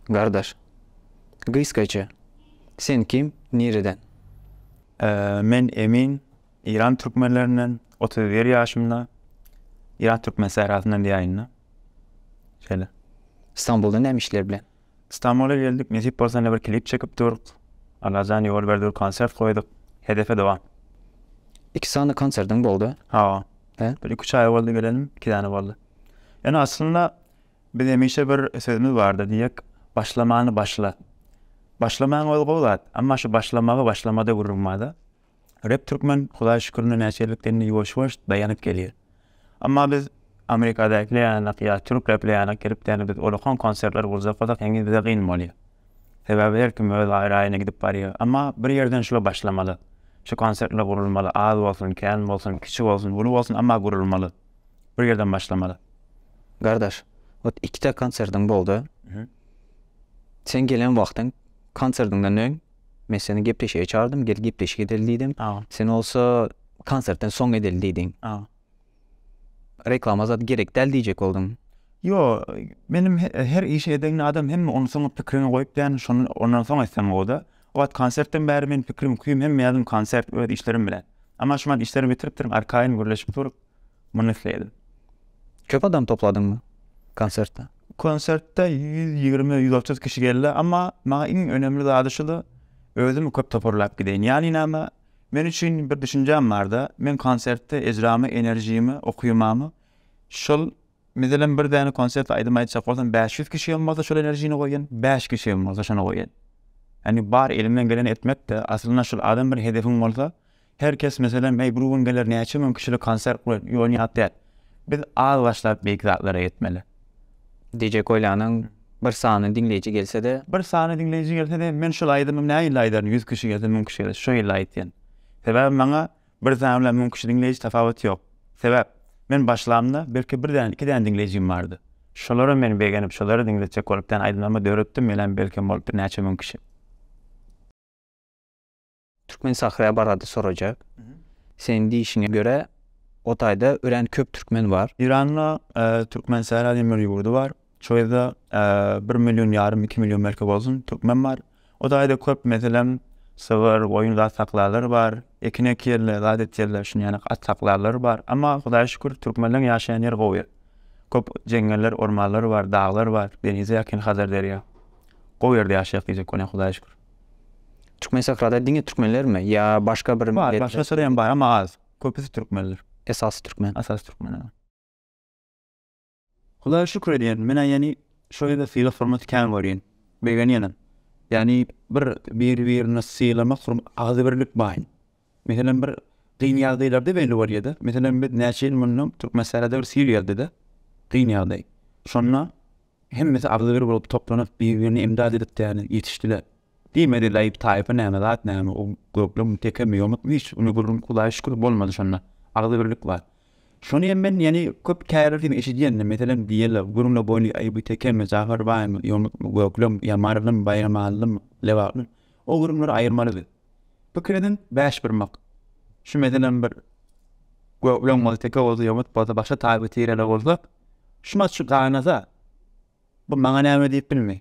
Gardaş. Gysgaça. Sen kim? Nireden? Men Emin. Iran türkmenlerinden otuz bir ýaşymda Iran türkmen sährasyndan diýäýin-de. Şeýle. Stambulda näme işler bilen? Stambula geldik, nesip bolsa ine bir klip çekip durk. Allajan ýol berdi bir konsert goýduk. Hedefe dowam. Iki sany konsertiň boldy. Hawa. He? Bir iki-üç aý boldy gelenim, iki däne boldy. Ýöne aslynda biz hemişe bir sözümiz bardy, diýjek, başlamany başla. Başlamaň özi gowy zat, emma şu başlamagy başlamada gürrüň barda. Rep türkmen hudaý şükür indi näçe ýyllyk dinde ýuwaş ýuwaş daýanyp gelýär. Emma biz Amerikadakiler ýanak ýa türk repler ýanak gelip däl biz olakan konsertler gurjak bolsak heniz bize gyn bolýar. Sebäbi her kim öz gaýraýyna gidip barýar. Emma bir ýerden şular başlamaly. Şu konsertler gurulmaly az bolsun kän bolsun kiçi bolsun uly bolsun emma gurulmaly. Bir ýerden başlamaly. Gardaş ot ikide konsertiň boldy. Sen gelen wagtyň konsertiňden öň. Men seni gepleşige çagyrdyň, gel gepleşik edeli diýdim. Sen bolsa konsertden soň edeli diýdiň. Reklama zat gerek däl diýjek bolduň. Ýok, menem her işi eden adam hemme ony soňa pikirine goýup däl, şony ondan soň etsem gowy-da. O wagt konsertden bäri meniň pikirim, küýüm hemme ýazym konsert, öz işlerim bilen. Emma şu wagt işleri bitiripdirin, arkaýyn gürleşip dur. Muny isleýdim. Köp adam topladyňmy konsertde? Konsertde ýüz ýigrimi, ýüz otuz kişi geldi. Emma maňa iň önemli zady şudy, özümi köp toparlap gideýin. Ýany näme, men üçin bir düşünjäm bardy, men konsertde ejramy, enerjimi, okuýmamy şol Meselem bir däne konsert aýdym aýtjak bolsam bäş ýüz kişi hem bolsa şol enerjini goýýan, bäş kişi hem bolsa şony goýýan. Ýagny bar elimden geleni etmekde aslynda şul adam bir hedefiň bolsa her kes meselem eý bir gün geler näçe müň kişilik konsert goýar ýony ýat däl. Biz az başlap beýik zatlara ýetmeli. DJ Kolyanyň bir sany diňleýji gelsede. Bir sany diňleýji gelsede men şul aýdymy nä ýylda aýdaryn ýüz kişi gelse müň kişi gelse şo ýylda aýtýan. Sebäbi maňa Bir sany bilen müň kişi diňleýji tapawuty ýok. Sebäp, men başlamda belki bir däne, iki däne diňleýjim bardy. Şolara men begenip, şolary diňletjek bolup däne aýdymlarymy döretdim, menem belkem bolup birnäçe müň kişi. Türkmen Sahra barada sorajak. Seniň diýişiňe görä, o taýda örän köp türkmen bar. Eýranda Türkmen Sahra diýen bir ýurdy bar. Şu ýerde bir million ýarym, iki million belki bolsun türkmen bar. O daýda köp meselem sygyr, goýun zat saklarlar bar. Ekin ekýärler, zat etýärler, şuny ýaly at saklarlar bar. Amma Hudaýa şükür türkmenleriň ýaşaýan ýeri gowy. Köp jeňňeller, ormanlar bar, daglar bar, denize ýakyn Hazar derýa. Gowy ýerde ýaşaýak diýjek bolýan Hudaýa şükür. Türkmen sahrada diňe türkmenlermi ýa başga bir milletler? Başga syrda hem bar, amma az. Köpüsi türkmenler. Esasy türkmen. Esasy türkmen. Hudaýa şükür edýän, men-ä ýani şo ýerde sylag-hormaty kän görýän, begenýenem. Ýani bir biri-birini sylamak hur agzybirlik baý. Meselem, bir kyn ýagdaýlarda belli bolýa-da. Meselem, biz näçe ýyl mundan Türkmensahra-da bir sil geldi-de, kyn ýagdaý. Şonda hemmesi agzybir bolup toplanyp, biri-birine imdad edip däli ýetişdiler. Diýmedi Laýyp taýpa näme zat näme o göklem tekemi ýomutmy hiç ony gürrüň hudaýa şükür bolmady şonda agzybirlik bar şony hem men ýene köp kälerden eşidýändim meselem diýýäler gürrüňe boýly aýby tekemi Jafar baýmy ýomutmy göklem ýamarlymy baýramalymy lebapmy o gürrüňleri aýyrmaly biz pikir ediň bäş birmak şu meselem bir göklem bolsa teke bolsa ýomut bolsa başga taýpa tireler bolsa şumat şu ganasa bu maňa näme diýip bilmeý.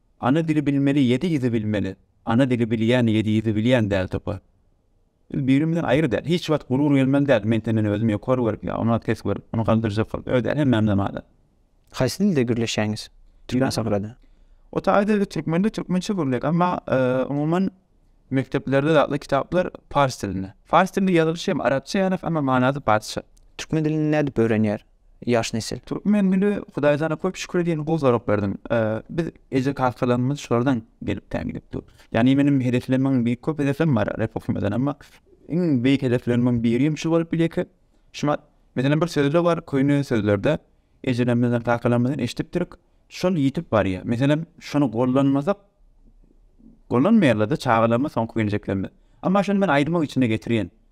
Ana dili bilmeli ýedi ýüzi bilmeli Ana dili bilýän ýedi ýüzi bilýän däl topa Biz birimizden aýry däl hiç wagt gurur gelmeli däl men senden özüm ýokary görüp ýa onat pes görüp ony galdyrjak gyl öz däl hemmämizem adam. Haýsy dilde gürleşýäňiz türkmen sahrada? O taýda türkmende türkmençe gürleýäs emma umuman mekdeplerde zatly kitaplar pars dilinde. Fars dilinde ýazylyşy hem arapça ýaly emma manasy parsça. Türkmen dilini nädip öwrenýär? ýaş nesil. Türkmen dili Hudaýjana köp şükür edýän gowy sorag berdiň. Biz eje kakalarymyz şulardan gelip tän gidip dur. Ýagny meniň hedeflerimin beýik köp hedeflerim bar rep okymadan emma iň beýik hedeflerimden biri hem şu bolup bilýär ki şuma meselem bir sözle bar köýne sözlerde ejelerimizden kakalarymyzdan eşdipdirik şol ýitip barýar. Meselem şony gollanmasak gollanmaýarlarda çagalarymyz soňky geljeklerimiz. Emma şony men aýdyma içine getirýän.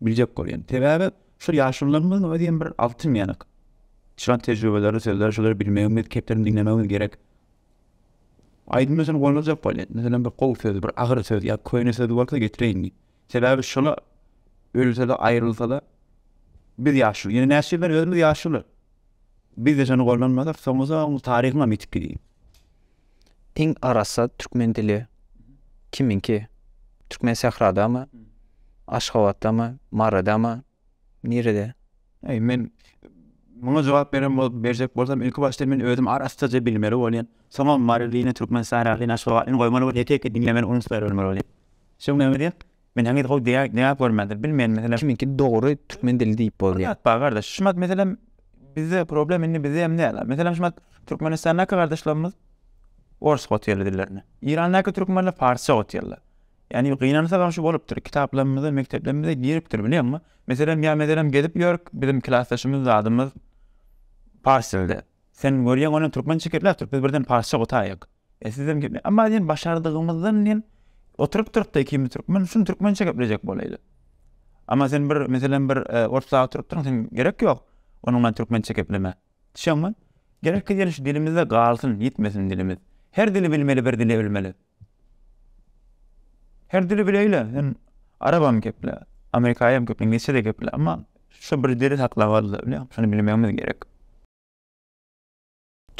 biljek bolýan. Sebäbi şu ýaşulylarymyzyň özi hem bir altyn ýanak. Çykan tejribeleri, sözleri şolary bilmegimiz, kepderiň diňlemegimiz gerek. Aýdym üçin gollanjak bolýan. Meselem bir gowy söz, bir agyr söz ýa köýne söz bolsa getireýin diýip. Sebäbi şola ölse-de, aýrylsa-da biz ýaşuly. Ýene näçe ýyldan özümiz ýaşuly. Biz-de şony gollanmasak soňuzam taryhyňam ýitip gidýär. Iň arassa türkmen dili kimiňki? Türkmensähradamy? Aşgabatdamy? Maradamy? Nirede? Eý, men muňa jogap beren bolup, berjek bolsam, ilki başdan men özüm arassaja bilmeli bolýan. Soňam marylyny, türkmensähralyny, aşgabatlyny goýmaly bolýan, ýeke-ýeke diňlemeli, unuslaýyn bolmaly bolýan. Şoň näme diýýän? Men heniz gowy diýag görmändir. Bilmeýän meselem. Kimiňki dogry türkmen dili diýip bolýa. Bar zat bar gardaş. Şumat meselem bizde problem indi bizde hem däl. Meselem şumat Türkmenistandaky gardaşlarymyz orus gotyýarlar dillerini. Irandaky türkmenler parsça gotyýarlar. Ýani gynansaňam şu bolupdyr. Kitaplarymyza, mekdeplerimize giripdir bilýäňmi? Meselem ýa meselem gezip ýörk biziň klasdaşymyz zadymyz pars dilde. Sen görýäň ony türkmençe gepläpdir biz birden parsça gotaýýak. E sizem gitme. Emma diýen başardygymyzdan diýen oturyp turupda ikimiz türkmen şum türkmençe geplejek bolaýly. Emma sen bir meselem bir e, orta turupdyň sen gerek ýok. Onuň bilen türkmençe gepleme. Düşeňmi? Gerek diýen şu dilimizde galsyn, ýitmesin dilimiz. Her dili bilmeli, bir dili ölmeli. Her dili bileýle. Sen arabam geple, amerikaýam geple, inglizçe de geple, emma şu bir dili saklamaly, bilýän, şuny bilmegimiz gerek.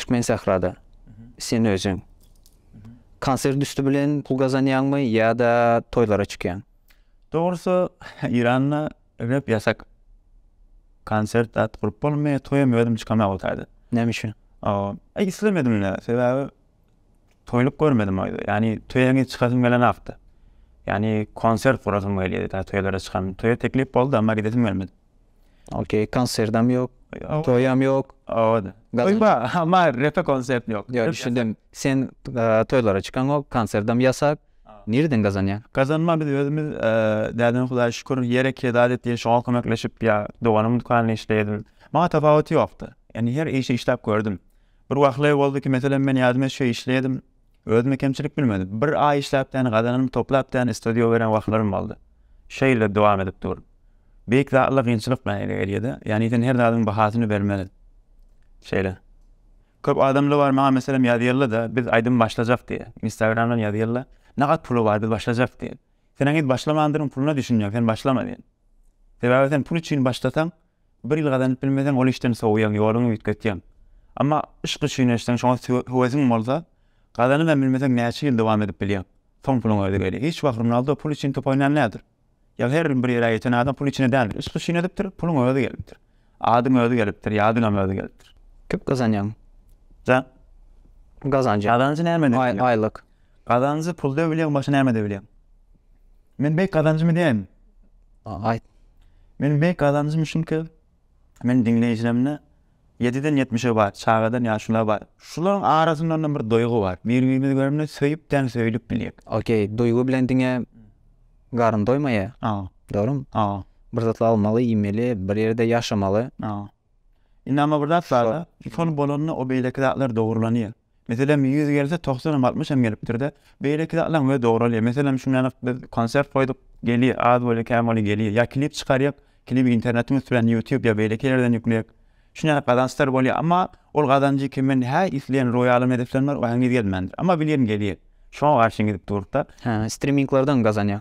Türkmensährada sen özüň konsert üsti bilen pul gazanýaňmy ýa-da toýlara çykýaň? Dogrusy, Eýranda rep ýasak. Konsert zat gurup bolmaýar, toýam özüm çykamok otyrdy. Näme üçin? Islemedim-de, sebäbi Toýluk görmedim oýda. Ýani töýäňe çykasym gelenakdy. Ýani konsert gurasym gelýärdi tä toýlara çykan. Toýa teklip boldy emma gidesim gelmedi. Okey konserdem ýok. Toýam ýok. Owada. Toý bar emma repe konsert ýok. Ýok düşündim. Sen toýlara çykaňok, konserdem ýasak. Nireden gazanýaň? Gazanma biz özümiz däden hudaýa şükür ýer ekýä zat etýä şoňa kömekleşip ýa doganym dükanynda işleýdim. Maňa tapawuty ýokdy. Ýani her işi işläp gördüm. Bir wahler boldy ki meselem men ýadyme şe işleýedim özüme kemçilik bilmedim bir aý işläpdäni gazananymy toplapdäni stodio beren wahtlarym boldy şeýle dowam edip dur beýik zatlar gynçylyk bilen ele gelýede ýagny sen her zadyň bahasyny bermeli şeýle köp adamla bar maňa meselem ýazýalla da biz aýdym başlajak diýe instagramdan ýazýalla nagat puly bar biz başlajak diýe sen heniz başlamandyryň puluna düşünýäň sen başlama diýen sebäbi sen pul üçin başlasaň Bir ýyl gazanyp bilmeseň, ol işden sowýaň, ýoluňy üýtgetýäň. Emma yşk üçin eşitseň, şoňa höwesiň bolsa, gazanyp hem bilmeseň, näçe ýyl dowam edip bilýäň. Soň puluň özi gelýär. Hiç wagt Ronaldo pul üçin top oýnan däldir. Ýa her bir ýere ýeten adam pul üçin däldir. Yşk üçin edipdir, puluň özi gelipdir. Adyň özi gelipdir, ýadyňam özi gelipdir. Köp gazanýaň. Jan. Gazanjy. Gazanjy näme? Aýlyk. Gazanjy pulda bilýäň başga nämede bilýäň? Men beýik gazanjymy diýäýinmi? Aýt. Meniň beýik gazanjym şunky, meniň diňleýjilerimde ýediden ýetmişe bar, çagadan ýaşulylar bar. Şularyň arasynda-da bir duýgy bar. Bir-birimizi görende söýüp däl söýlüp bilýäk. Okey, duýgy bilen diňe garyn doýmaýar. Hawa. Dogrumy? Hawa. Bir zatlar almaly, iýmeli, bir ýerde ýaşamaly. Hawa. Indi emma bir zat bar-da, şol bolanda o beýleki zatlar dogrulanýar. Meselem, ýüz gelse, togsanam, altmyşam gelipdir-de. Beýleki zatlaň özi dogralýar. Meselem, şundanam biz konsert goýduk, gelýär, az bolýa, kän bolýa, gelýär. Ýa klip çykarýak, klibi internetiň üstünden, ýutýub ýa beýleki ýerden ýükleýäk. Şundanam gazançlar bolýar. Amma ol gazanjy kimin hä isleýän roýalym hedeflerim bar, o heniz gelmändir. Amma bilýän gelýär. Şoňa garşy gidip duruk-da. Hä, striminglerden gazanýar.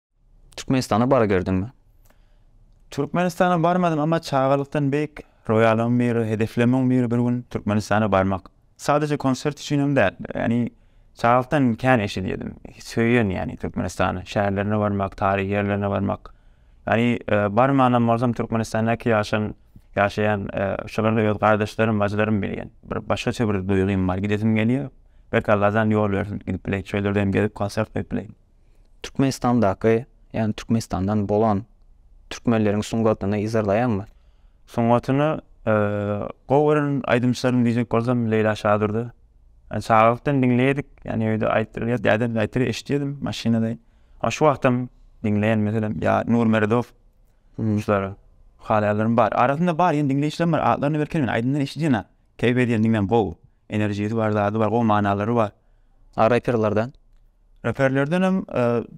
Türkmenistana baryberdiňmi? Türkmenistana barmadym, emma çagalykdan beýik roýalymyň biri, hedeflemem biri bir gün Türkmenistana barmak. Sadaje konsert üçinem däl, ýagny çagalykdan kän eşidýärdim, söýýän ýagny Türkmenistany, şäherlerine barmak, taryhy ýerlerine barmak. Ýagny barmanam bolsam Türkmenistandaky ýaşan, ýaşaýan şolary öz gardaşlarym, bajylarym bilýän. Bir başgaça bir duýgym bar, gidesim gelýär. Belki Allajan ýol bersin, gidip bileýin, şol ýerde hem gezip konsert goýup bileýin. Türkmenistandaky, ýagny Türkmenistandan bolan türkmenleriň sungatyny yzarlaýaňmy? Sungatyny gowy gören aýdymçylarym diýjek bolsam Leýla Şadurdy. Ýani çagalykdan diňleýedik, ýani öýde aýtdyrylýar, dädem aýtdyryp eşidýärdim maşynada. Ýa şu wagtam diňleýän meselem ýa Nur Meredow şulary halaýanlarym bar. Arasynda bar ýene diňleýjilerim bar, atlaryny belki men aýdymdan eşidýän-ä. Keýp edýän diňem gowy. Enerjisi bar, zady bar, gowy manalary bar. A reperlerden? Reperlerdenem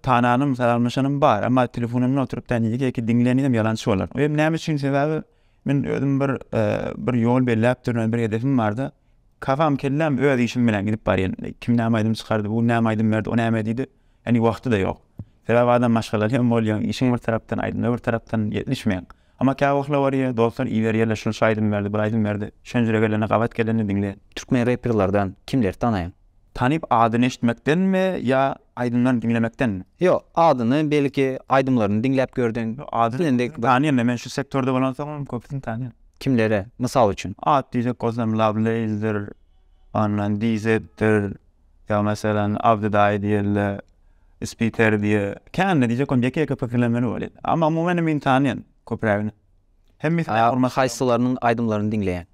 tananym, salamlaşanym bar, emma telefonymda oturyp da nji keýki diňlenim ýalançy bolar. Oýem näme üçin? Sebäbi men özüm bir bir ýol belläp durun, bir hedefim barda, kafam, kelläm öz işim bilen gidip barýan. Kim näme aýdym çykardy, bu näme aýdym berdi, o näme diýdi. Ýagny wagty-da ýok. Sebäbi adam maşgalaly hem bolýaň, işiň bir tarapdan, aýdymlar bir tarapdan ýetişmeýäň. Amma kä wahla barýa dostlar iberýärler şunça aýdym berdi bir aýdym berdi şönjüre gelende gabat gelende diňle. Türkmen reperlardan kimleri tanaýaň? Tanyp adyny eşitmekdenmi ýa aýdymlaryny diňlemekdenmi? Ýok adyny belki aýdymlaryny diňläp gördüň. Ýok adyny köpüsini tanýan men şu sektorda bolansoňam köpüsini tanýan. Kimleri mysal üçin? At diýsek Gozlem Lawlace'dir, ondan DZ-dir, ýa meselem Abdy daýy diýeli. Spikeri diýe. Kän netije kom ýeke-ýeke pikirlenmeli weli. Amma umumen hem ynsany ýan köprägini. Hemmesini Aýa hormat. Haýsylarynyň aýdymlaryny diňleýäň?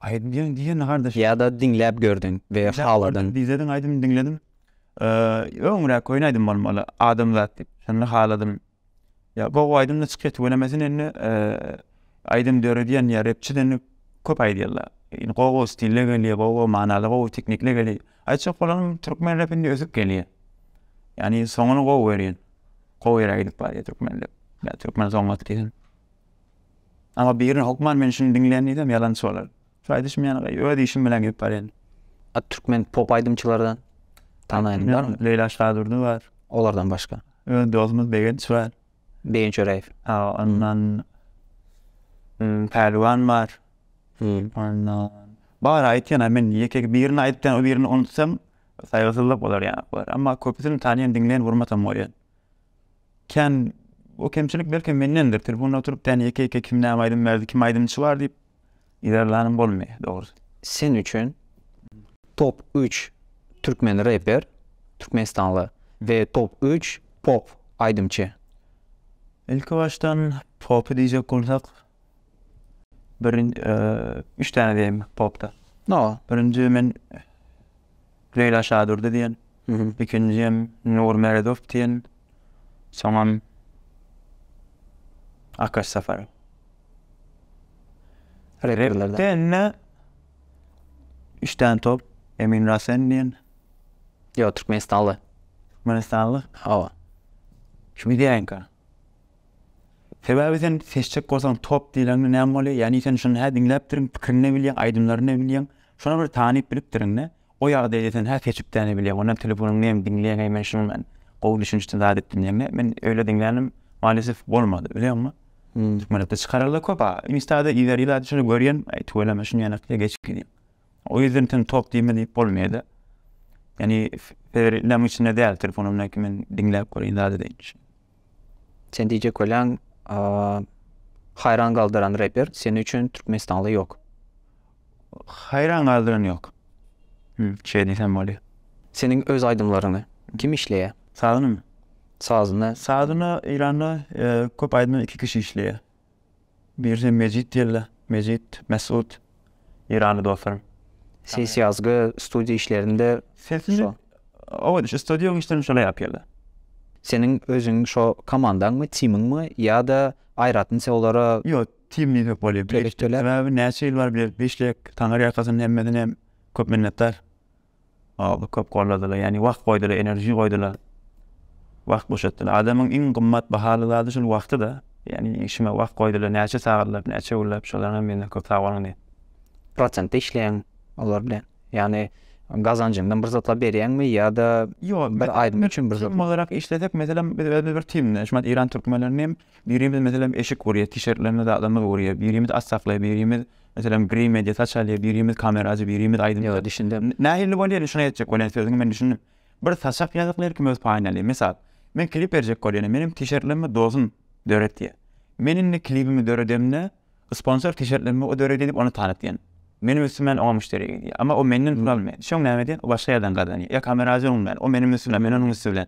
Aýdym diýen diýen gardaş. Ýa-da diňläp gördüň we haladyň. Dizediň aýdym diňledim. Öňräk köýnä aýdym bolmaly. Adamzat diýip. Şonda haladym. Ýa gowy aýdymda çykýa tüwelemesin indi aýdym döredýän ýa repçi deni köp aýdýarlar. Indi gowy gowy stille gelýä, gowy gowy manaly gowy teknikle gelýä. Aýtjak bolan türkmen repinde ösüp gelýä. Ýani soňuny gowy görýän. Gowy ýere gidip barýa türkmen rep. Ýa türkmen soňat diýen. Amma birini hokman men şuny diňlän diýsem ýalançy bolar. Saýdyşym ýanagaý öz işim bilen gidip barýan. A türkmen pop aýdymçylardan tanaýanyň barmy? Leýla Şadurdy bar. Olardan başga? Öz dostumyz Begenç bar. Begenç Öräýew. A ondan Pälwan bar. Ondan bar aýtýan men ýeke birini aýtýan o birini unutsam saýgysyzlyk bolar ýa bar. Emma köpüsini tanýan diňleýän gurmatam bolýan. Kän o kemçilik belki mendendir telefona oturyp däne ýeke ýeke kim näme aýdym berdi kim aýdymçy bar diýip Yzarlanym bolmaýar dogrusy. Sen üçin top üç türkmen reper, türkmenistanly, we top üç pop aýdymçy? Ilki başdan popy diýjek bolsak, birin üç däne diýeýin popda. Birinji men Leýla Şadurdy diýen, ikinjim Nur Meredow diýen, soňam Akaş Safarow. Repde indi üç däne top, Emin Rasen diýen. Ýok, türkmenistanly. Türkmenistanly? Hawa. Şuny diýäýinka. Sebäbi sen seçjek bolsaň top diýleňde näme bolýar? Ýani sen şuny hä diňläpdirin, pikirini-de bilýäň, aýdymlaryny-da bilýäň. Şuny bir tanyp bilipdiriň-dä. O ýagdaýda sen hä seçip-dä-de bilýäň. Onda telefonyňda hem diňleýäň hem men şuny men gowy düşünişde zat etdim diýeňdä. Men öýle diňlänim malisew bolmady. Bilýäňmi? Türkmenlikde çykaryldy köp-a. Insta-da yzar-yzar şuny görýän, tüweleme şuny ýene geç gidýän. O ýerden sen top diýme diýip bolmaýada. Ýani Federeriniň içinde däl telefonumdan ki men diňläp göreýin zady diýen üçin. Sen diýjek bolýaň haýran galdyran reper seni üçin türkmenistanly ýok. Haýran galdyran ýok. Şeýle diýsem bolýar. Seniň öz aýdymlaryňy kim işleýär? Sazynymy? Sazyny. Sazyny Eýranda köp aýdymda iki kişi işleýär. Birden Mejit geldi. Mejit, Mesut, Eýranly dostlarym. Ses ýazgy studiýa işlerinde şo. Owedi şu studiýaň işlerini şolar ýazyp geldi. Seniň özüň şo komandaňmy, timiňmi ýa-da aýratyn se olara. Ýok, tim diýsek bolýar. Sebäbi näçe ýyl bar bilelik işleýäk. Taňyrýakasyn hemmesinem köp minnetdar. Ýa-da köp golladylar, ýagny wagt goýdular, enerji goýdular, wagt boşatdylar. Adamyň iň gymmat bahaly zady şol wagty-da. Ýagny işime wagt goýdular, näçe sagatlap, näçe günläp, şolara hem menden köp sag boluň diýýän. Prosentde işleýäňmi olar bilen? Ýagny gazanjyňdan bir zatlar berýäňmi ýa-da Ýok, bir aýdym üçin bir zatlar. Tim olarak işlesek, meselem, biz özümiz bir timde, şu wagt eýran türkmenlerini hem birimiz, meselem, eşik gurýar, t-şirtlerimizi, zatlarymyzy gurýar, birimiz at saklaýar, birimiz Meselem, biri media saçaly, birimiz kameraçy, birimiz aýdymçy. Ýa, düşündim. Nähili bolýar indi şuny etjek bolýan sözüňi men düşündim. Bir saçak ýazyp her kim öz paýyny alýar. Mysal, men klip berjek bolýan, meniň tişertlerimi dosum döretýär. Men indi klibimi döredemde sponsor tişertlerimi o döredýär diýip ony tanatýan. Meniň üstümden oňa müşderi gidýär. Emma o menden pul almaýar. Şoň näme edýän? O başga ýerden gazanýar. Ýa kameraçy öňümden, o meniň üstümden, men onuň üsti bilen.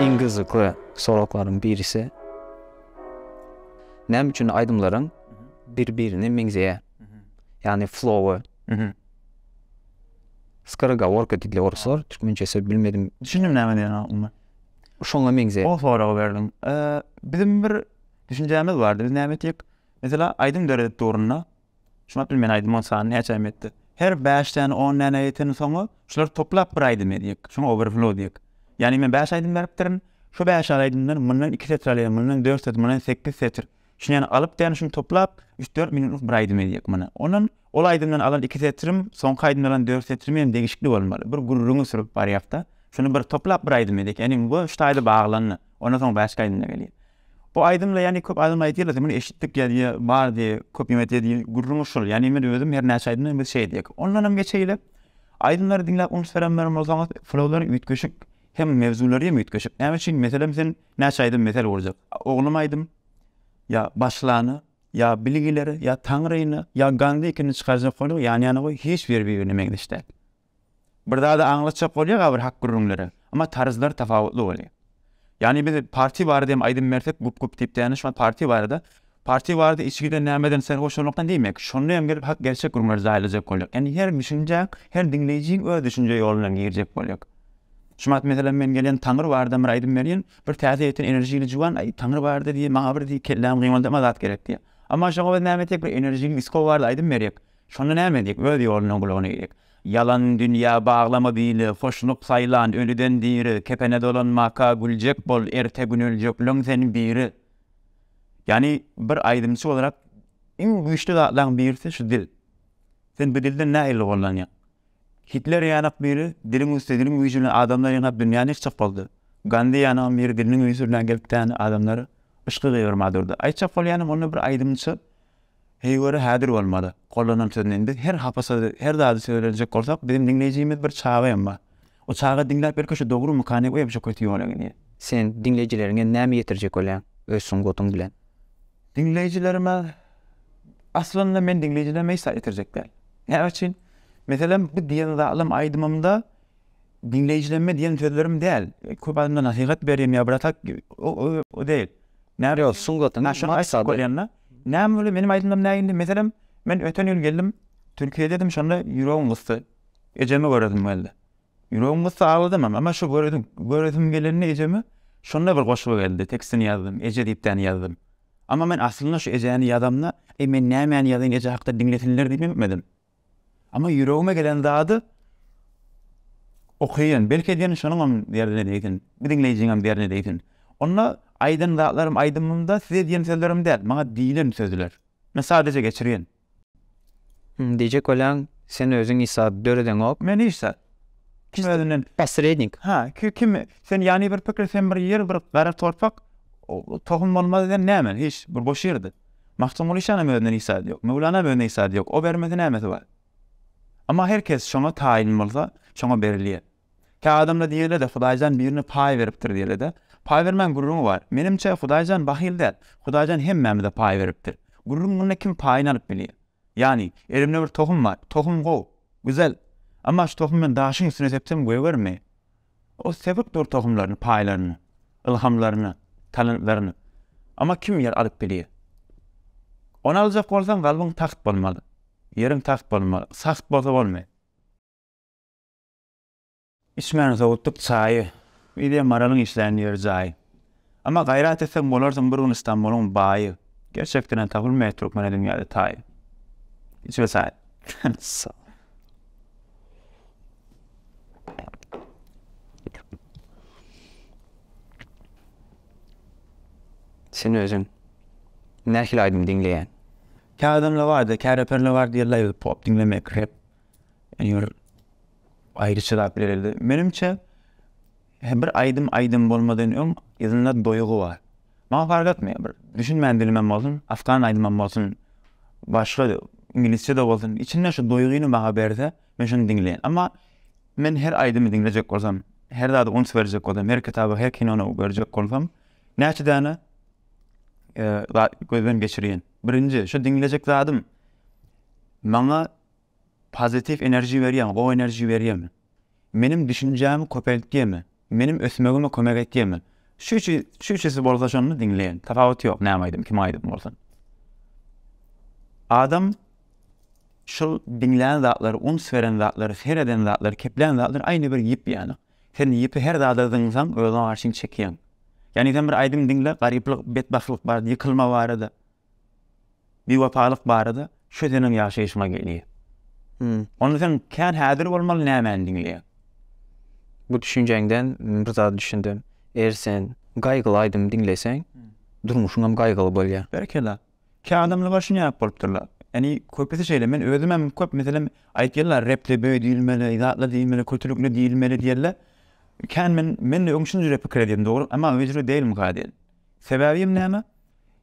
Iň gyzykly soraklaryň birisi, näme üçin aýdymlaryň bir-birine meňzeýär? Ýagny flowy. Skorogoworka diýdiler oruslar, türkmençe söz bilmedim. Düşündim näme diýenini aslynda. Şoňa meňzeýär. Gowy sorag berdiň. Biziň bir düşünjämiz bardy. Biz näme etjek? Meselem, aýdym döredip durunda, Şuňa bil men aýdymyň sany näçe ähmiýetli. Her bäş däne on däne ýeten soňy şular toplap bir aýdym edýek. Şoňa overflow diýek. Ýagny men bäş aýdym beripdirin. Şu bäş aýdymdan mundan iki setr alýan, mundan dört setr, mundan sekiz setr. Şuny ýany alyp däne şuny toplap üç dört minutlyk bir aýdym edýek muny. Ondan ol aýdymdan alan iki setrim, soňky aýdymdan alan dört setrim hem degişikli bolmaly. Bir gürrüňi sürüp barýakda. Şuny bir toplap bir aýdym edýek. Ýagny bu üç taýda baglandy. Ondan soň bäşki aýdymda gelýär. Bu aýdymda ýani köp adam aýdýarlar sen muny eşitdik ýa-da bar diýe köp ýene diýe gürrüňi şol ýani men özüm her näçe aýdymda biz şeý diýek ondanam geçeýle aýdymlary diňläp uns berenler bolsaňyz flowlary üýtgeşik hem mewzulary hem üýtgeşik näme üçin meselem sen näçe aýdym mesel urjak oglum aýdym ýa başlany ýa bilgileri ýa taňryny ýa gandy ikini çykarjak boluň ýan ýana goý hiç biri bir birine meňzeş däl Bir zady aňlatjak bolýar agyr hak gürrüňlere, emma tarzlary tapawutly bolýar. Ýagny biz parti barada hem aýdym bersek gup gup diýip däne şo parti barada, parti barada içgiden nämeden serhoşalykdan diýmek, şonda hem gelip hak gerçek gürrüňleri zaýalajak bolýar. Ýagny her düşünjäň, her diňleýjiň öz düşünje ýolundan girjek bolýar. Şu wagt meselem men gelýän Taňry barada bir aýdym berýän, bir täze ýeten enerjili juwan aý Taňry barada diýýär maňa bir diýýär kellämi gyňyldama zat gerek diýýär. Emma şoňa biz näme etjek bir enerjili disko barada aýdym berjek, Şonda näme edýek? Öz ýoluna gulak eýjek. Ýalan dünýä baglama bili, Hoşluk saýlan ölüden diri, Kepene dolanmaka güljek bol, Erte gün öljekleň sen biri. Ýagny bir aýdymçy bolaraq iň güýçli zatlaň birisi şu dil. Sen bu dilden nähili gollanýaň? Hitler ýanak biri diliň üsti diliň güýji bilen adamlar ýanap dünýäni ýykjak boldy. Gandi ýanam biri diliniň ünsü bilen gelip däne adamlary yşky gyýgyrma durdy. Aýtjak bolýanym onda bir aýdymçy. Heý göre häzir bolmady. Gollanan söz men. Biz her hapa sözi, her zady sözlenjek bolsak, biziň diňleýjimiz bir çaga hem bar. O çaga diňläp belki şu dogrumykany o hem şo köti ýola gelýär. Sen diňleýjileriňe näme ýetirjek bolýaň öz sungatyň bilen? Diňleýjilerime, aslynda men diňleýjilerime hiç zat ýetirjek däl. Näme üçin? Meselem, bu diýen zalam aýdymymda Diňleýjilemmi diýen sözlerim däl. Köp adamlar nasihat berýän ýa biratak o däl. Ýok, sungatyň maksady. Näme bolýar meniň aýdymlarym nä indi? Meselem, men öten ýyl geldim, Türkiýede edim, şonda ýüregim gysdy. Ejemi göresim geldi. Ýüregim gysdy, agladymam. Emma şo göresim, göresim gelende ejemi, şonda bir goşgy geldi, tekstini ýazdym, Eje diýip däni ýazdym. Emma men aslynda şu Ejäni ýazamda, eý men nämäni ýazyn Eje hakda diňlesinler diýip etmedim. Amma ýüregime gelen zady okaýyn. Belki sen şonuňam derdine degsin. Bu diňleýjiňem derdine degsin. Onda aýdan zatlarym aýdymymda size diýen sözlerim däl, maňa diýlen sözler. Men sadejä geçirýän. Diýjek bolýaň, sen özüň hiç zat döredeňok. Men hiç zat. Kim özünden. Posrednik. Hä, kim? Sen ýany bir pikir, sen bir ýer, bir gara torpak, tohum bolmaz sen näme? Hiç, bir boş ýerde. Magtymguly şanam özünden hiç zady ýok. Möwlanam özüne hiç zady ýok. O bermese nämesi bar? Emma her kes şoňa taýyn bolsa, şoňa berilýär. Kä adamlar diýerler-de, Hudaýjan birine paý beripdir diýerler-de. Paý bermäň gürrüňi bar. Menimçe, Hudaýjan bahyl däl. Hudaýjan hemmämize paý beripdir. Gürrüň munda kim paýyny alyp bilýär. Ýani, elimde bir tohum bar. Tohum gowy. Güzel. Emma şu tohumy men daşyň üstüne sepsem gögermi? Ol sebit dur tohumlaryny, paýlaryny, ylhamlaryny, talantlaryny. Emma kim ýer alyp bilýär? Ony aljak bolsaň, kalbyň tagt bolmaly. Ýeriň tagt bolmaly. Sagt bolsa bolmaýar. Içmäni sowutdyk çaýy. Yzy hem Maralyň işlän ýeri-jaýy. Emma gaýrat etseň bolarsyň bir gün Stambulyň baýy gerçekdenem tapylmaýar türkmene dünýäde taýy. Içme çaý. Sen özüň nähili aýdym diňleýäň? Kä adamlar barda, kä reperler bar diýerler ýa-da pop diňlemek, rep. Ýöne aýry çyzap bilerdi. Menimçe. Hä bir aýdym aýdym bolmadan öň yzynda doýgy bar. Maňa fark etmeýär bir düşünmän dilimem bolsun afgan aýdymam bolsun başga iňlisçede bolsun içinde şu doýgyny maňa berse men şony diňleýän emma men her aýdymy diňlejek bolsam her zada uns berjek bolsam her kitaba her kinona görjek bolsam näçe däne zat gözden geçirýän birinji şu diňlejek zadym maňa Pozitiw enerji berýämi, gowy enerji berýämi? Meniň düşünjämi köpeltýämi? Meniň ösmegime kömek etýämi? Şu üçi, şu üçüsi bolsa şonda diňleýän. Tapawuty ýok näme aýdym, kim aýdym bolsun. Adam şol diňlän zatlary, uns beren zatlary, sereden zatlary, keplän zatlary aýna bir ýip ýaly. Sen ýipi her zada zyňsaň, özüňe garşyň çekýäň. Ýagny sen bir aýdym diňle, garyplyk, betbagtlyk barada, ýykylma barada, Biwepalyk barada şu seniň ýaşaýşyňa gelýär. Onda sen kän häzir bolmaly nämäni diňleýäň? Bu düşünjäňden bir zada düşündim. Eger sen gaýgyly aýdymy diňleseň, durmuşyň hem gaýgyly bolýar. Berekella. Kä adamlar şuny ýap bolupdyrlar. Ýagny köpüsi şeýle. Men özüm hem köp meselem aýtýarlar repde böý diýilmeli, zatla diýilmeli, kötülükli diýilmeli diýerler. Kän men, men öň şunjure pikir edýärdim dogry, emma öýjürek dälmyka diýen. Sebäbi hem näme?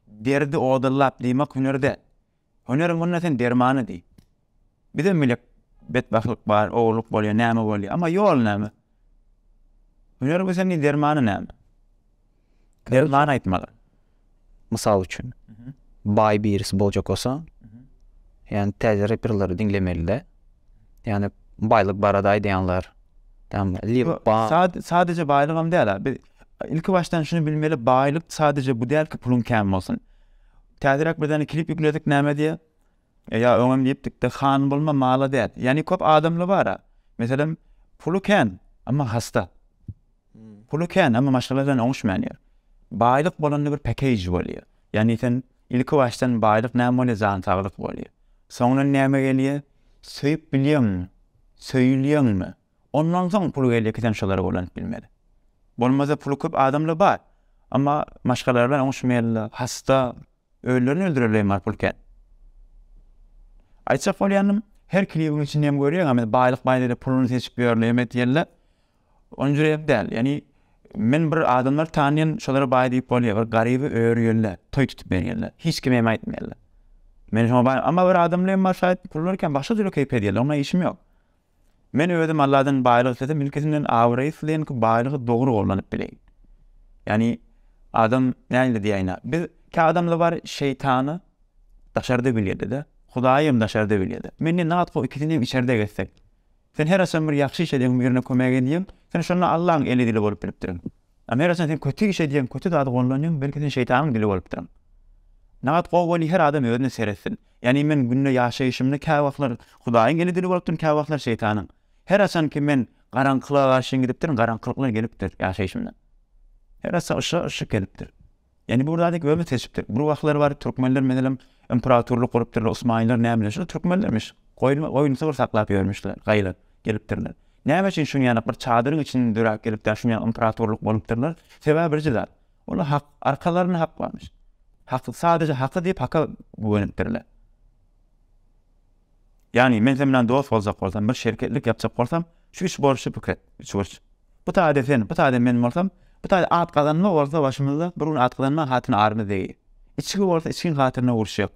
Derdi odallap diýmek hüner däl. Hüneriň onda sen dermany diý. Bizem bilek betbagtlyk bar, ogurlyk bolýar, näme bolýar. Emma ýol näme? Hüneri bilseň diý dermany näme? Derman aýtmaly. Mysal üçin, baý birisi boljak bolsa, ýa täze reperleri diňlemeli-de. Yani baylyk barada aýdýanlar. Sadece baýlygam däl. Biz ilki başdan şunu bilmeli, baýlyk sadece bu däl ki, puluň kän bolsun. Täzeräk bir däne klip ýükledik näme diýe? Ýa öňem diýipdikde, han bolma, mala däl. Yani köp adamla bara. Meselem, puly kän, amma hasta. Puly kän, emma maşgala bilen oňuşmaýan ýer. Baýlyk bolanda bir pakeýj bolýar. Ýagny sen ilkibaşdan baýlyk näme bolýar, jan-saglyk bolýar. Soňundan näme gelýär? Söýüp bilýäňmi? Söýülýäňmi? Ondan soň pul gelýär ki, sen şolara ulanyp bilmeli. Bolmasa puly köp adamlar bar, emma maşgalalary bilen oňuşmaýarlar, hasta, özlerini öldürerleýem bar pul kän. Aýtjak bolýanym, her klibiň içinde hem görýäňmi, baýlyk-baýlyk diýip puluny seçip ýörler, hem edýärler. Onjurek däl, ýagny men bir adamlar tanýan, şolara baý diýip bolýar, bir garyby örýärler, toý tutup berýärler, hiç kime hem aýtmaýarlar. Men şoňa baý, emma bir adamlaýam bar şaýat, puly barkam başga jüre keýp edýärler, oňa işim ýok. Men özüm Alladan baýlyk islesem, ilkisinden abraý isleýän ki, baýlygy dogry gollanyp bileýin. Ýagny adam nähili diýäýin-ä, biz kä adamda bar şeýtany daşarda bilýärdi-de, Hudaýy hem daşarda bilýärdi. Men diýen zat goý ikisini hem içerde gezsek. Sen her haçan bir ýagşy iş edýäň, birine kömek edýäň, sen şonda Allaň eli-dili bolup bilipdirin. Ama her haçan sen köti iş edýäň, köti zady gollanýaň, belki sen şeýtanyň dili bolupdyryň. Nagat gowy bol, her adam özüne seretsin. Ýagny men günde ýaşaýşymda käwagtlar Hudaýyň eli-dili bolupdyryn, käwagtlar şeýtanyň. Her haçanki men garaňkylyga garşyn gidipdirin, garaňkylyklar gelipdir ýaşaýşymda. Her haçan yşyga yşyk gelipdir. Ýani bu bir zat ýok özümiz seçipdik. Bir wagtlar bar türkmenler meselem imperatorlyk gurupdyrlar osmanlylar näme bilen şol türkmenlermiş goýun goýun sygyr saklap ýörmüşler gaýlap gelipdirler. Näme üçin şuny ýaly bir çadyryň içinde döräp gelip däl şuny ýaly imperatorlyk bolupdyrlar sebäbi birje zat olar hak arkalarynda hak barmyş. Hak sadaje haky diýip haka güwenipdirler. Ýagny, men sen bilen dost boljak bolsam, bir şeriketlik ýapjak bolsam, şu üç burçy pikir et, üç burç. Bu taýda sen, bu taýda men bolsam, bu taýda at gazanma bolsa başymyzda, bir gün at gazanma hatyna arymyz degi. Içgi bolsa içgiň hatyryna uruşjak.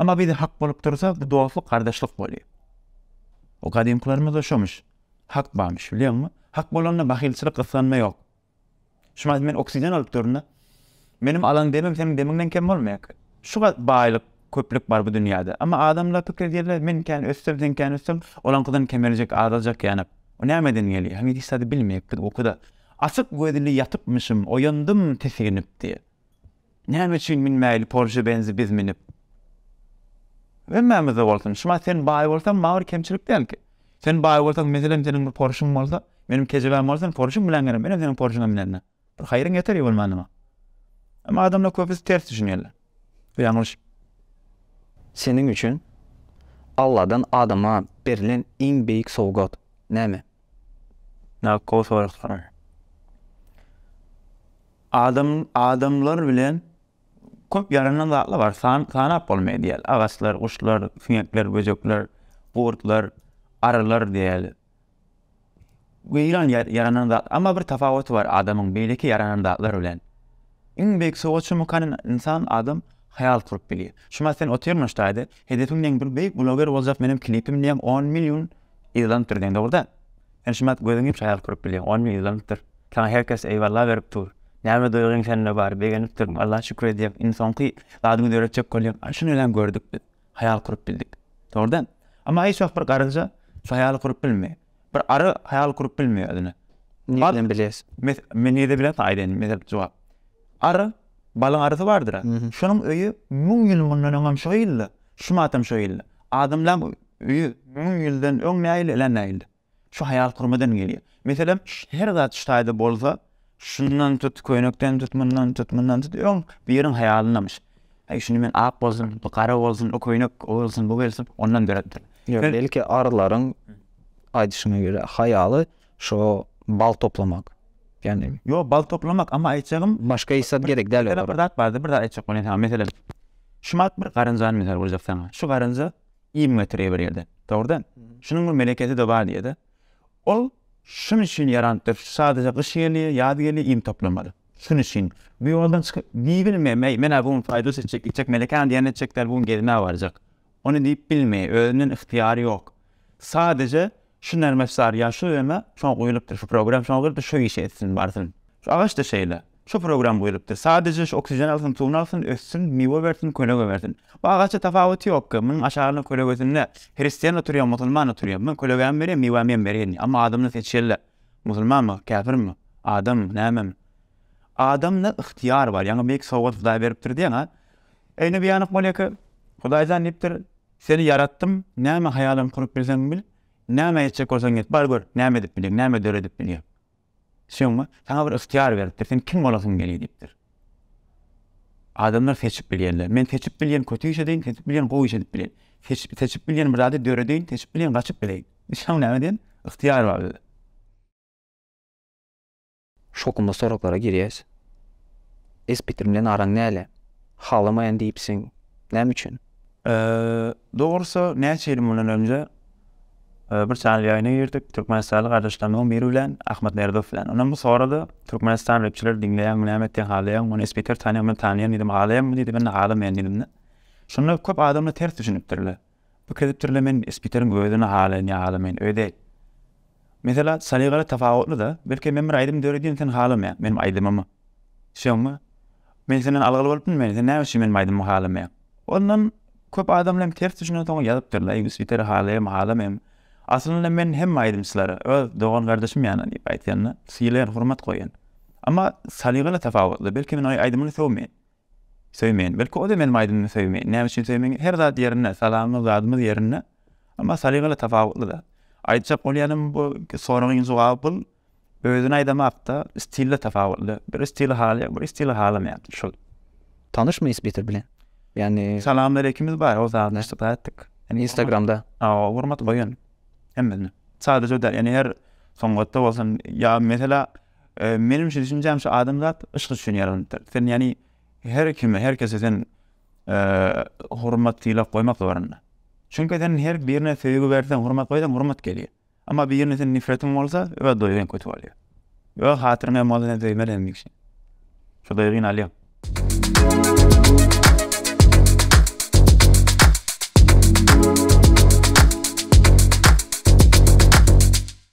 Emma bize hak bolup dursa, bu dostluk, gardaşlyk bolýar. O gadymkylarymyzda şomyş. Hak barmyş, bilýäňmi? Hak bolanda bahylçylyk, gysganma ýok. Şumat men oksigen alyp duryn-da. Menim alan demim seniň demiňden kem bolmaýarka. Şu gaty baýlyk, köplük bar bu dünýäde. Emma adamlar pikir edýärler, men kän össem, sen kän össeň, olaňkydan kemeljek, azaljak ýanak. O nämeden gelýär? Heniz hiç zady bilmeýäpdik, ukuda. Açyk gözli ýatypmyşym, oýandym tisiginip diýýär. Näme üçin minmäýli Porsche Benzi biz minip hemmämizde bolsun şumat sen baý bolsaň maňa kemçilik dälki sen baý bolsaň meselem seniň bir Porschyň bolsa meniň kejebäm bolsa sen Porschyň bilen gel menem seniň Porschyňa minenna bir haýryň ýeter ýa bolmanda maňa emma adamlar köpüsi ters düşünýärler bu ýalňyş. Seniň üçin Alladan adama berlen iň beýik sowgat näme? Gaty gowy sorag soraýar. Adam adamlar bilen köp ýaranan zatlar bar. San sanap bolmaýar diýýärler. Agaçlar, guşlar, siňekler, böjekler, gurtlar, arylar diýýärler. Weýran ýa- ýaranan zat. Amma bir tapawuty bar adamyň beýleki ýaranan zatlar bilen. Iň beýik sowgat çumukany in- insan adam haýal kurup bilýär. Şumat sen otyryn şu taýda, hedepiň diýen bir beýik bloger boljak, meniň klipim diýen on million yzlanypdyr diýen dogry däl. Sen şumat gözüň ýumşak ýaly turup bilýäň, ony ýylanypdyr. Saňa her kes eýwalla berip dur. Näme duýgyň sende bar, begenipdirin, Alla şükür edýäň, indi soňky zadyňy döretjek bolýaň, aý şuny bilen gördük biz, haýal kurup bildik. Dogrudan. Emma hiç wagt bir garynja şu haýaly kurup bilmeýär. Bir ary haýal kurup bilmeýär özüne. Nireden bilýäs? Men nireden bilýän saňa aýdaýyn, meselem, jogap. Ary, balyň arysy bardyr-a. Şonuň öýi müň ýyl mundan öňem şo ýylda, şumatam şo ýylda. Adamlaň Ýüz müň ýyldan öň nähili ila nähili. Şu haýal kürmeden gelýär. Meselem her zat şu taýda bolsa şundan tut köýnekden tut mundan tut mundan tut öň biriň haýalynamyş. Heý şuny men ak bolsun bu gara bolsun o köýnek o gelsin bu gelsin ondan döretdim. Ýok belki arylaryň aýdyşyna görä haýaly şo bal toplamak. Ýagny. Ýok bal toplamak emma aýtjagym başga hiç zat gerek däl olara. Bir zat bardy bir zat aýtjak bolýan saňa meselem şumat bir garynjany mysal berjek saňa şu garynja Iým getirýär bir ýerden. Dogrudan. Şunuň bir melekesi-de bar diýýär-de. Ol şunuň üçin ýaranypdyr. Sadaja gyş gelýär, ýaz gelýär, iým toplamaly. Şunuň üçin. Bu ýoldan çykyp diýibilmeýär. Meý, men-ä bu gün paýda seçjek, gitjek, melekäni diýen etjek däl, bu gün gezmä barjak. Ony diýip bilmeýär. Özünden yhtyýary ýok. Sadaja Şu nermes zar ýa şu öme şo guýlupdyr, şu program şo girdi, şo işi etsin, barsyn. Şu agaç-da şeýle. Şu program guýlupdyr. Sadaje şu oksijen alsyn, suwuny alsyn, össün, miwe bersin, kölege bersin. Bu agaça tapawuty ýok-ka. Munuň aşagyna kölegesinde hristian oturýa, musulman oturýa. Men kölegämi berýän, miwämem berýän. Emma adamdan seçýärler. Musulmanmy, käpirmi, adammy, nämemi. Adamda ygtyýar bar. Ýaňy beýik sowgat Hudaý beripdir diýen-a. Eýne biýanyk bolýa-ka. Hudaý jan diýipdir. Seni ýaratdym, näme haýalyň kurup bilseň bil, näme etjek bolsaň et, bar gör, näme edip bilýäň, näme döredip bilýäň. Şoňa saňa bir ygtyýar beripdir, sen kim bolasyň geliň diýipdir. Adamlar seçip bilýärler. Men seçip bilýän kötü iş edeýin, seçip bilýän gowy iş edip bilýän. Seçip, seçip bilýän bir zady döredeýin, seçip bilýän gaçyp bileýin. Şoň näme diýen? Ygtyýar bar bizde. Şokunda soraglara girýäs. Espitrim bilen araň näle? Halamaýan diýipsiň. Näme üçin? Dogrusy, näçe ýyl mundan öňje bir çäniň ýaýyna girdik, türkmenistanly gardaşlarymyzyň biri bilen, Ahmet Merdow bilen. Ondan bu sorady, Türkmenistan repçileri diňleýäňmi, näme etýäň, halaýaňmy? Muny Espiter tanaýar, men tanaýaryn diýdim. Halaýaňmy diýdi, men-de halamaýan diýdim-de. Şunda köp adamlar ters düşünipdirler. Bu kezipdirle men spiteriň özüni halaýan ýa halamaýan öýi däl. Mesela salygaly tapawutlyda belki men bir aýdym döredýän sen halamaýaň meniň aýdymymy. Düşeňmi? Men senden algyly bolup bilmen sen näme üçin meniň aýdymymy halamaýaň. Ondan köp adamlar hem ters düşünen soň ýazypdyrlar eý spiteri halaýarmy halamaýarmy. Aslynda men hemme aýdymçylara öz dogan gardaşym ýaly diýip aýtýanda sylaýan hurmat goýýan. Emma salygaly tapawutly belki men oý aýdymyny sögmeýän. Söýmeýän. Belki o-da meniň aýdymymy söýmeýär. Näme üçin söýmeýär? Her zat ýerinde, salamymyz, zadymyz ýerinde. Emma salygaly tapawutly-da. Aýtjak bolýanym bu soragyň jogaby bul özüni aýdamakda stilde tapawutly. Biri stili halaýar, biri stili halamaýar. Şul. Tanyşmy isbitir bilen? Ýagny. Salamaleýkimiz bar, ol zady aýtdyk, aýtdyk. Instagramda. Hawa, hormat goýun hemmesine. Sadajada ýagny her sungatda bolsun ýa meselä Menimçe düşünjäm şu adamzat yşk üçin ýaralypdyr. Sen ýani her kime, her kese sen hormat sylag goýmak zorunda. Çünki sen her birine söýgi berseň, hormat goýsaň, hormat gelýär. Amma birine sen nifretiň bolsa, öz doýgy hem kötü bolýar. Öz hatyryň hem bolsa sen söýmeli hemişe. Şu doýgyny alýar.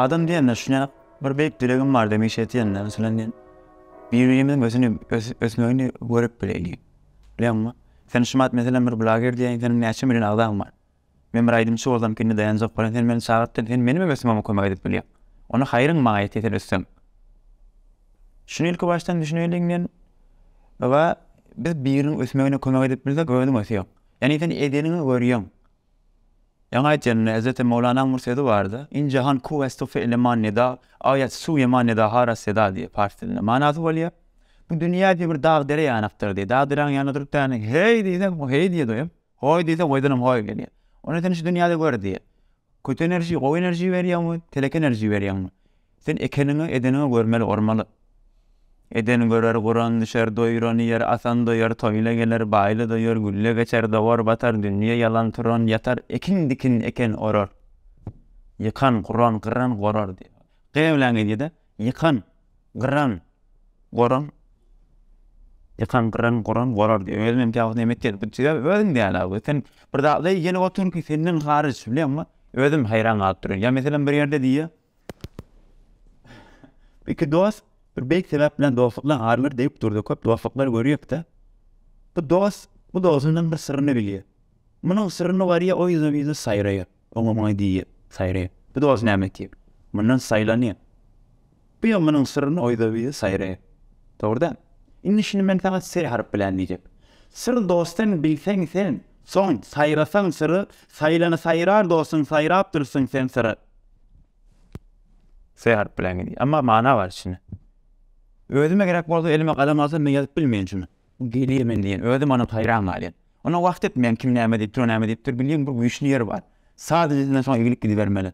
Adam diýende şuňa bir beýik dilegim bar demek etýänler bilen men birimiň özüni ösmegini görüp bileýin. Bilemmi? Sen şu mat meselem bir blager diýen sen näçe million agzaň bar. Men bir aýdymçy bolsam kindi daýanjak bolan sen meni çagyrtdyň sen menimem ösmeme kömek edip bilýäň onda haýryň maňa ýetýä sen össem şuny ilki başdan düşüneýliň men we biz biriniň ösmegine kömek edip bilsek özüň ösýäň ýagny sen edeniňi görýäň ýaňy aýtýan hezreti mowlanaň bir sözi bardy in jahan kuw estu fe eleman neda aýat suw ýaman neda haras seda diýip pars dilinde manasy bolýar bu dünýä diýip bir dag dere ýanakdyr diýip dag deräň ýanynda durup däne heý diýseň o heý diýýä doýup. Goý diýse goýdunam goýy gelýär. Ony sen şu dünýäde gör diýýär. Köti enerji, gowy enerji berýäňmi, telek enerji berýäňmi? Sen ekeniňi, edeniňi görmeli, urmaly. Eden görer, guran düşer, doýuran iýer, asan doýar, toýla geler, baýla doýar, gülle geçer, dogar, batar, dünýe ýalan, turan ýatar, ekin dikin, eken orar, ýykan, guran, gyran, gorar diýýär. G bilen gelýär-de. Ýykan, gyran, goran, ýykan, gyran, goran, gorar diýýär. Özüm hem käwagt näme etjek bilip çykyp, özüm däl abi. Sen bir zatlary iýenip otur ki, senden haryç, bilýäňmi? Özüm haýran galyp durýan. Ýa meselem bir ýerde diýýär. Iki dost bir beýik sebäp bilen dostlukdan aýrylar diýip durdy. Köp dostluklar görýäs-de. Bu dost bu dostundan bir syryny bilýär. Munuň syryny barýar, o ýüzüne ýüzi saýraýar. Oňa-muňa diýip, saýraýar. Bu dost näme etýär? Mundan saýlanýar. Bu ýa munuň syryny oýda-buýda saýraýar. Dogry-da? Indi şuny men saňa syr haryp bilän diýjek. Syr dostdan bilseň sen, soň saýrasaň syry, saýlany saýrar dostun saýrap dursuň sen syry. Syr haryp bilän diýýär. Emma mana bar içinde. Özüme gerek bolsa elime galam alsam men ýazyp bilmeýän şuny. Gelir men diýen, özüm onam haýran galýan. Onam wagt etmeýän, kim näme diýipdir, o näme diýipdir, bilýän bir güýçli ýeri bar. Saz ilinden soň egilip gidibermeli.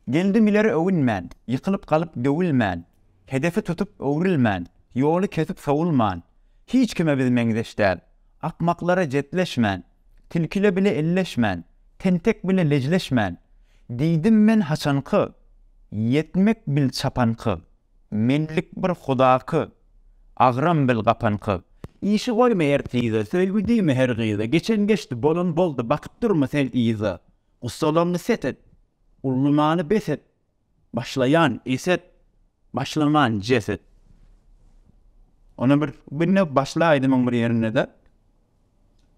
Geldim ileri öwünmän, ýykylyp galyp döwülmän, hedefi tutup öwrülmän, ýoly kesip sowulman, hiç kime biz meňzeş däl, akmaklara jetleşmän, tilkile bile elleşmän, tentek bile lejleşmän, diýdim men haçanky, ýetmek bil çapanky, menlik bir hudaky, Agram bil gapan kyz. Işi goýma er tize, söýgi diýme her gyza, geçen geçdi, bolan boldy, bakyp durma sen yza. Gussalaňňy set et, ullumany bes et, başlaýan eset, başlaman jeset. Ony bir, bir ne başla aýdymyň bir ýerinde-de.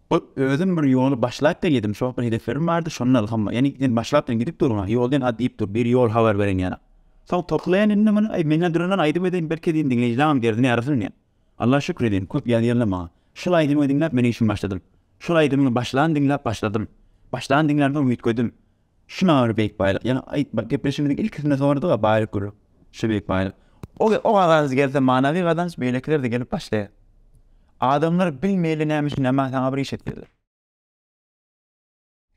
Ol, Özüm bir ýoly başlap gelýedim, şol bir hedeflerim bardy, şondan ylham, ýani sen başlap diýen gidip durun-a, ýol diýen at diýip dur, bir ýol habar beren ýaly. Soň toklaýan indi muny, Aý, men-ä durndan aýdym edeýin, belki diýen diňleýjilaňam derdini ýarasyn diýen. Alla şükür edýän, köp ýazýarlar maňa. Şol aýdymyňy diňläp men işimi başladym. Şol aýdymyňy başlan diňläp başladym. Başlan diňlänsoň üýtgedim. Şuna göre Beýik Baýlyk, ýene aýtma, gepleşigimiziň ilkisinde sorady-da Baýlyk gürrüň. Şu Beýik Baýlyk. O gazanç gelse, manawy gazanç beýlekiler-de gelip başlaýar. Adamlar bilmeýärler näme üçin, emma saňa bir iş etdirdiler.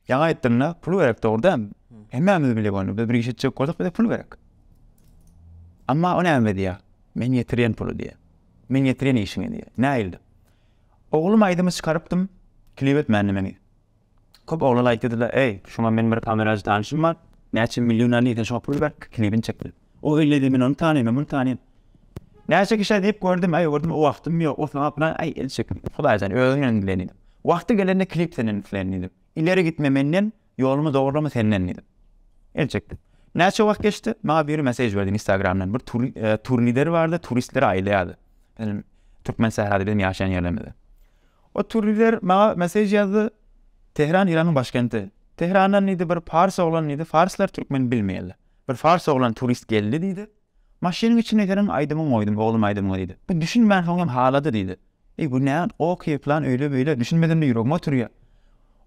Ýaňy aýtdyň-da, pul gerek, dogry dälmi? Hemmämiz bilýäs ony, biz bir iş etjek bolsak, bize pul gerek. Emma o näme diýýär? Men ýetirýän puly diýýär. Men ýetirýän işiňi diýýär. Nähili? Oglum aýdymy çykarypdym, klip etmändi meni. Köp oglan aýtdyda eý şuňa men bir kamerajy tanyşym bar näçe million alyň sen şuňa pul ber klibini çek diýip o elleýdi men ony tanaýyn men muny tanaýyn näçe kişä diýip gördüm aý gördüm o wagtym ýok o saňa plan aý el çek hudaý sen özüň bilen dilen diýdim wagty gelende klip senden isleýin diýdim ileri gitme menden ýolumy dograma senden diýdim el çekdi näçe wagt geçdi maňa biri mesej berdi instagramdan bir tur tur lideri bardy turistleri aýlaýardy türkmen sährady biziň ýaşaýan ýerlerimize Oturyber, maňa mesej ýazdy, Tehran Iranyň başkenti. Tehrandan diýdi, bir pars oglan diýdi, farslar türkmen bilmeýärler. Bir fars oglan turist geldi diýdi. Maşynyň içinde seniň aýdymyňy goýdum, oglum aýdymyňy diýdi. Bu düşünmän soň hem halady diýdi. Eý bu nä oky plan öýle beýle düşünmedimde ýüregime oturýa.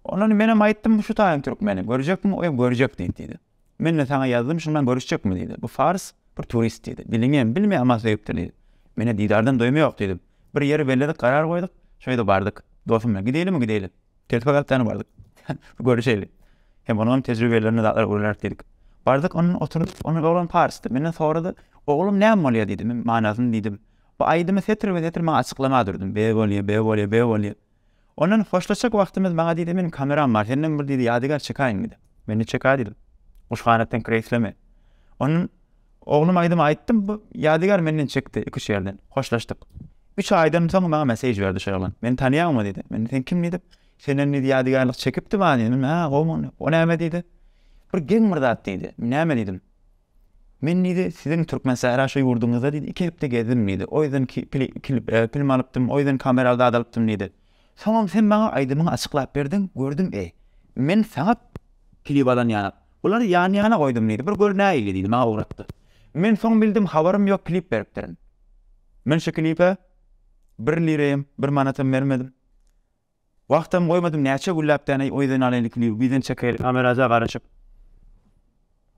Ondan menem aýtdym, şu taýyň türkmeni, görjekmi oýa görjek diýdi diýdi. Men-de saňa ýazdym, şundan görüşjekmi? diýdi. Bu fars, bir turist, diýdi. Diliňem bilme, aman söýüpdir, diýdi. Men-ä didardan doýma ýok, diýdim. Bir ýeri belledik, garar goýduk, şo ýerde bardyk. Dostum bilen, Gideýlimi, gideýli. Telpek alyp däne bardyk. Bir görüşeýli. Hem onuňam tejribelerine zat öwreneris, diýdik. Bardyk, ondan oturdyk. Ondan oglan parsdy. Menden sorady, Oglum, näme bolýar? diýdi. Men manysyny diýdim. Bu aýdymy setir be-setir maňa açyklama durdum. Be bolýa, be bolýa, be bolýa. Ondan hoşlaşjak wagtymyz maňa diýdi, Meniň kameram bar, senden bir diýdi ýadygär çekaýyn diýdi. Men-de çekä diýdim. Guşganatdan kireýsleme. Ondan oglum aýdymy aýtdym, bu ýadygär menden çekdi, iki-üç ýerden. Hoşlaşdyk. Üç aýdan soň maňa messež berdi şo oglan. Meni tanýaňmy diýdi. Men-de sen kim diýdim. Senden diýdi ýadygärlik çekipdi maňa diýdim. Hä, gowmy onda. O näme diýdi. Bir geň bir zat diýdi. Näme diýdim. Men diýdi, siziň Türkmensähra şu ýurduňyzda diýdi, iki hepde gezdim diýdi. O ýerden film alypdym, o ýerden kameraly zat alypdym diýdi. Soňam sen maňa aýdymyňy açyklap berdiň, gördüm, eý, men saňa klip alan ýanak, bulary ýan-ýana goýdum diýdi, bir gör nähili diýdi, maňa ugratdy. Men soň bildim, habarym ýok, klip beripdirin. Men şu klipe bir lirem, bir manatam bermedim. Wagtam goýmadym näçe gülläp däneý oýdan alaýyn ikimiz bizden çekeýli kameraja garaşyp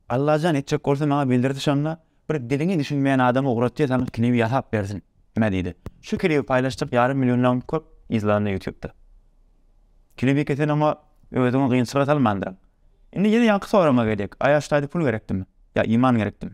Allajan etjek bolsa maňa bildirdi şonda bir diliňi düşünmeýän adama ugratýa saňa klibi ýasap bersin nä diýdi şu klibi paýlaşjak ýarym milliondan köp izlanda ýutubda klibi ki sen oňa özüňi gynçylyga salmandyryň indi ýene ýaňky soragma gelýek aýaşdaýdy pul gerekdimi ýa iman gerekdimi.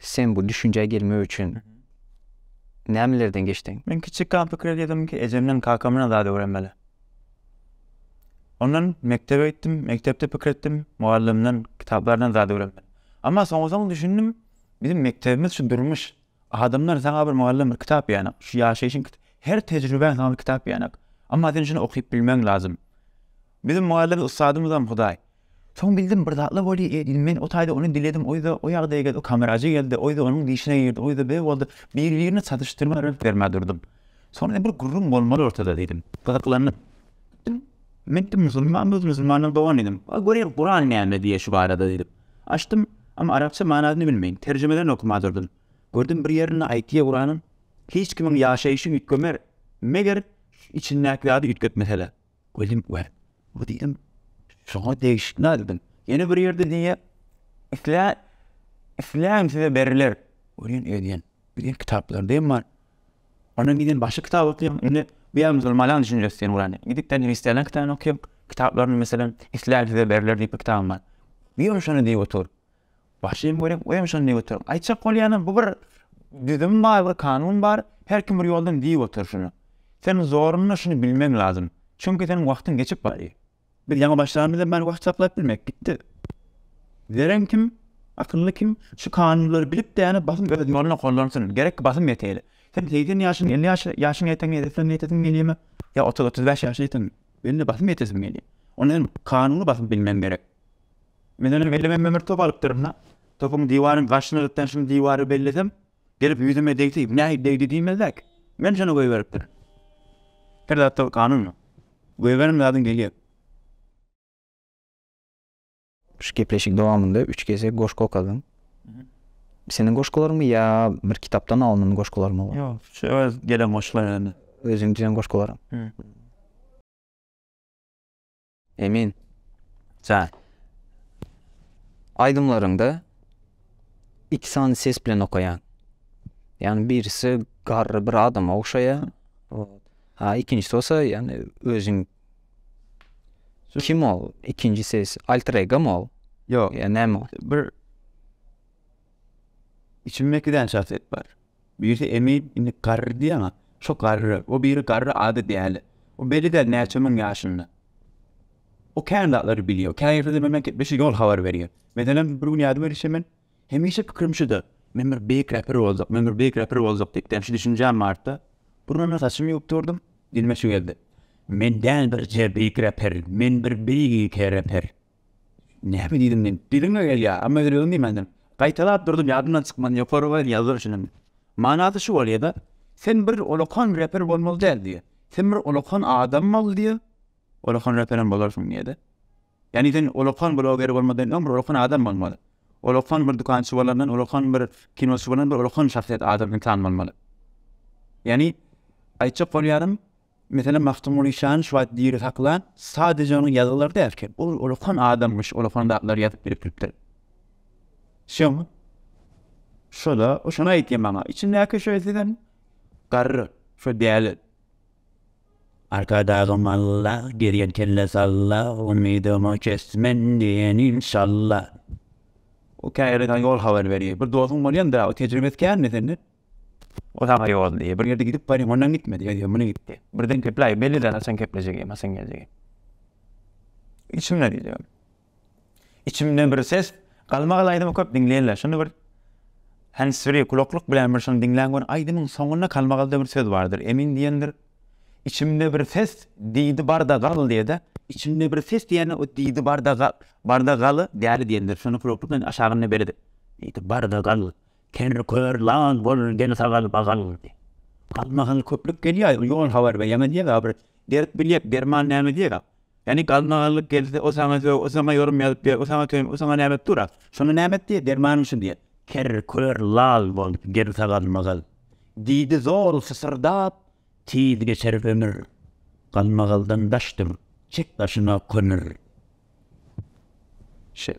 Sen bu düşünjä gelmek üçin nämelerden geçdiň? Men kiçikam pikir edýärdim ki, ejemden, kakamdan zat öwrenmeli. Ondan mekdebe gitdim, mekdepde pikir etdim, mugallymdan, kitaplardan zat öwrenmeli. Emma soňy-soňy düşündim, biziň mekdebimiz şu durmuş. Adamlar saňa bir mugallym, bir kitap berenak, şu ýaşaýşyň, her tejribäň saňa bir kitap berenak. Emma sen şuny okyp bilmegiň lazym. Biziň mugallym ussadymyzam hudaý. Soň bildim bir zatlar bolýa diýdim men o taýda ony diledim oýza o ýagdaýa geldi o kamerajy geldi oýza onuň dişine girdi oýza be boldy biri birine çatyşdyrma rnk bermä durdum soň indi bir gürrüň bolmaly ortada diýdim gyzyklandyp gitdim men diýdim musulman biz musulmandan dogan diýdim a göreýin kuran näme diýýä şu barada diýdim açdym ama arapça manasyny bilmeýin terjimelerini okama durdum gördüm bir ýerinde aýtýa kuranyň hiç kimiň ýaşaýşy üýtgemer meger içindäki zady üýtgetmeseler Gözüm gör, bu diýdim, şoňa degişli aýdym. Ýene bir ýerde diýýär, Islä, isläň size beriler. Görýän edýän, biziň kitaplarda hem bar. Ondan giden başga kitap okýan, indi bu ýa musulmanlaň düşünjesi diýen bolany. Gidip sen hristianlaň kitabyny okýan, kitaplaryny meselem, isläň size beriler diýip bir kitabym bar. Diýiň şony diýip otur. Başym görek oýam şonda göterim. Aýtjak bolýanam bu bir düzüm bar, bir kanun bar, her kim bir ýoldan diýip otyr şuny. Sen zoruna şuny bilmeň lazym. Çünki seniň wagtyň geçip barýar. Biz ýaňy başlanymyzdan bäri wagt saklap bilmek gitdi. Zerän kim, akylly kim şu kanunlary bilip däne basym öz ýoluna gollansyn. Gerek ki basym ýeteýli. Sen segsen ýaşyň, elli ýaş, ýaşyň ýeteňi edesleriňe ýetesiň gelýärmi? Ýa otuz, otuz bäş ýaşa ýeteňmi? Belli basym ýetesiň gelýär. Onda sen kanuny basym bilmeň gerek. Men onuň ellemegime bir top alypdyryn-da, topuň diwaryň gaşyna gitden şum diwary bellesem, gelip ýüzüme degse, nähili degdi diýmezler-ki. Men şony goýberipdirin. Her zatda bir kanun bar. Goýberen zadyň gelýär. Şu gepleşigiň dowamynda üç gezek goşgy okadyň. Seniň goşgularyňmy ýa bir kitapdan alnan goşgularyňmy? Ýok, şu öz gelen goşgularymy. Özüň düzen goşgularyň. Emin jan. Aýdymlaryňda iki sany ses bilen okaýaň. Ýagny birisi garry bir adama ogşaýar. Ha ikinjisi bolsa ýagny özüň kim ol? Ikinji ses alter ego mu ol? Ýok. Ýa näme ol? Bir içimde iki däne şahsyýet bar. Birisi Emin, indi garry diýýäň-a, şo garry. O biri garry, ady Däli. O belli däl näçe müň ýaşynda. O kän zatlary bilýär. Kä ýerde-de menden gepleşse ýol habar berýär. Meselem, bir gün ýadyma düşse men, hemişe pikirim şuda, Men bir beýik räper boljak, men bir beýik räper boljak diýip däl şu düşünjäm bardy-da, burnuma saçymy ýuwup durdum, dilime şu geldi, Men däl birje beýik räper, men bir beýik ýeke räper. Näme diýdim men? Diliňe gelýär, emma ýüregiň diýmändir. Gaýtalap durdum, ýadymdan çykman, ýokary goýun ýazgyr üçinem. Manasy şu bolýa-da, Sen bir ullakan reper bolmaly däl diýýä. Sen bir ullakan adam bol diýýä, ullakan reperem bolarsyň diýýä-de. Ýagny sen ullakan bloger bolmadan öň bir ullakan adam bolmaly. Ullakan bir dükançy bolandan, ullakan bir kinoçy bolandan bir ullakan şahsyýet, adam, ynsan bolmaly. Ýagny aýtjak bolýanym, Meselem, Magtymguly Şanyş wagt diri saklan, sadeje onuň ýazgylary dälki, ol ullakan adamyş, ullakan zatlar ýazyp birikdiripdir. Şoň, şo-da, şony aýtýan maňa, içindäki şo sizem garry, şo däli. Arkadagy malla, gezýän kelle salla, umydymy kesdim men diýen inşalla. O käýerden ýol habar berýär. Bir dostuň bolýanda, o tejribesi känmi senden? O saňa ýol diýýär. Bir ýerde gidip baryň, ondan gitme diýýär. Ýa muny git diýýär. Birden kepläýip belli däl haçan keplejegem, haçan geljegem. Içimde diýjegem. Içimde bir ses, Galmagal aýdymy köp diňleýinler. Şuny bir handsfree kulaklyk bilen bir şuny diňläň görüň. Aýdymyň soňunda Galmagalda bir söz bardyr. Emin diýendir. Içimde bir ses diýdi barda gal diýede. Içimde bir ses diýende o diýdi barda gal, barda galy däli diýendir. Şuny kulaklyk bilen aşagynda belidi. Diýdi barda gal. Teni kör lal bolun deni sagal bagal boldy. Galmagal köplük gelýä ýol habar beýemez ýega bir berip bilýek derman näme diýega Ýani galmagallyk gelse o saňa sög o saňa ýorum ýazyp ber o saňa töň o saňa näme edip dur a şony näme et diýe dermanym şu diýe Teni kör lal bolun deni sagal magal diýdi zor sysyrdap Tiz geçer ömür galmagaldan daş dur çek daşyňa kömür. Şeýle.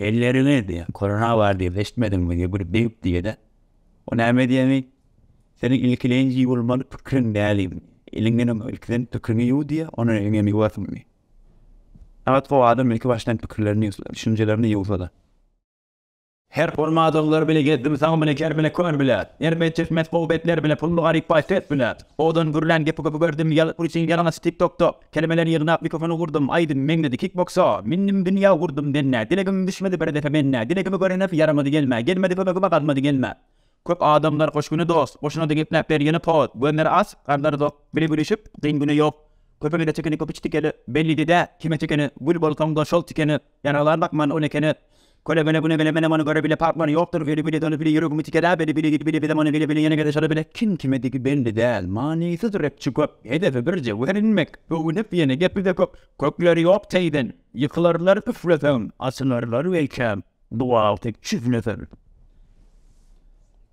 Elleriňe diýýär. Korona bar diýip eşitmediňmi diýýär. Bir dep diýýär-de. O näme edýämi? Seniň ilkileýin ýuwulmaly pikiriň näli? Eliňden öň ilkiden pikiriňi ýuw diýýär, ondan elini hem ýuwarsyň diýýär. Sagat gowy adam ilki başdan pikirlerini ýuwsa, düşünjelerini ýuwsa-da. Her bolmadyglar bile gezdim, sag bile, ker bile, kör bile. Ermez, çeşmes, gowy betler bile, pully, garyp, baý, pes bile. Owadan gürlän gepi köpügerdim, ýaly, pul üçin ýalaňaç, tik-tok-tok. Kelimeleri ýygnap mikrofona urdum, Aýdym meňzedi kikboksa. Mindim dünýä urdum dennä, Dilegim düşmedi bir depe mennä. Dilegimi görenef ýaramady gelmä, Gelmedi kömegime galmady gelmä. Köp adamlar hoş güni dost, Goşunady gepläp ber ýene post. Gönder aç, garnlary dok, Bile gülüşip, kyn güne ýok. Köpüňede çekeni köp iç tikeni, Bellidi-dä, kime çekeni, Gül bolsaň-da şol tikeni. Ýaraglar bakman ol ekene. Köle bele güne bele menem ony göre bile parklary ýokdur bele bile dony bile ýüregimi tikeläp bele bile gidi bile bile many bile bile ýene gede şola bile kim kime digi belli däl manysyz repçi köp hedefe bir jewher inmek öwünip ýene gepize köp kökleri ýok teýden ýykylarlar üfleseň açylarlar welkäm dual tek çüfleseň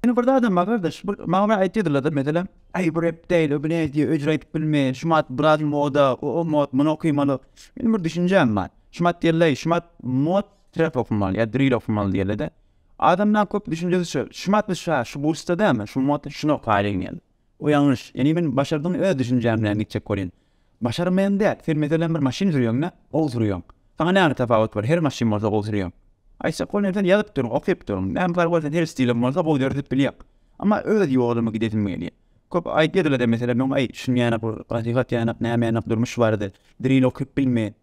Ýene bir zadam bar gardaş bir maňa aýtdylardyr meselem aý bu rep däl o bile diýe öjräýtip bilmeýär şumat biraz moda o mod muny okymaly meniň bir düşünjäm bar. Şumat diýerleý, şumat mot trep okmaly ýa drill okmaly diýerlede. Adamlaň köp düşünjesi şu, şumat biz şa, şu bursda dämi, şu mot şuny okaýlyň diýen. Bu ýalňyş. Ýani men başardygyny öz düşünjäm bilen gitjek bolýan. Başarmaýan däl, sen meselem bir maşyn sürýäňdä, gowy sürýäň. Saňa näme tapawut bar, her maşyn bolsa gowy sürýäň. Aýtjak bolýan sen ýazyp dur, okyp dur, näme fargy bar sen her stiliň bolsa gowy döredip bilýäň. Amma öz ýolumy gidesim gelýär. Köp aýdýadylada meselem men aý düşünýänak, nasihat ýanak, näme ýanak durmuş barada, drill okyp bilmeýän.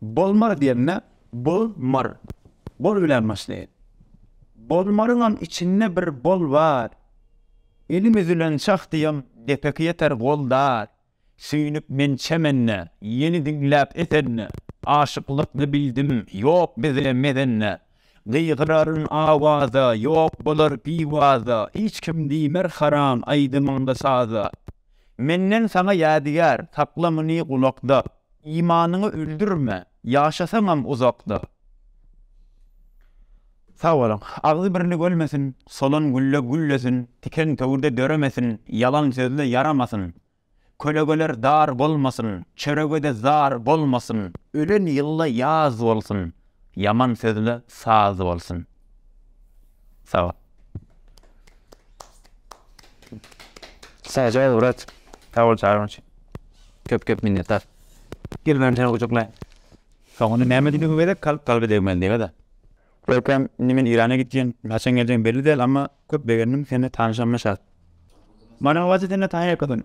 Bolmar diýende bol mar. Bol bilen başlaýar. Bolmaryňam içinde bir bol bar. Elim üzülen çah diýeň depeki ýeter gol dar. Süýnüp men çemende, ýeli diňläp esende, aşyklykny bildim, ýok bizde mezende. Gygyraryň awaza, ýok bolar biwaza, hiç kim diýmer haram aýdymyňda saza. Menden saňa ýadygär, sakla muny gulakda, imanyňy öldürme, ýaşasaňam uzakda. Sag boluň. Agzy birlik ölmesin, solan gülle güllesin, tiken töwirde döremesin, ýalan sözle ýaramasyn, Kölegeler dar bolmasyn, çörege-de zar bolmasyn. Ölen ýylda ýaz bolsun, ýaman sözle saz bolsun. Sag bol. Sähjal brat, sag bol çagyryň üçin. Köp köp minnetdar. Gel bäri seni gujaklaýyn. Soňunda näme diýdigiňi gezek, kalp kalby degmeli diýibä-de. Görkem indi men Irana gitýän haçan geljegim belli däl amma köp begendim seni tanyşanyma şat. Manyň wajy sende Taýa köpün.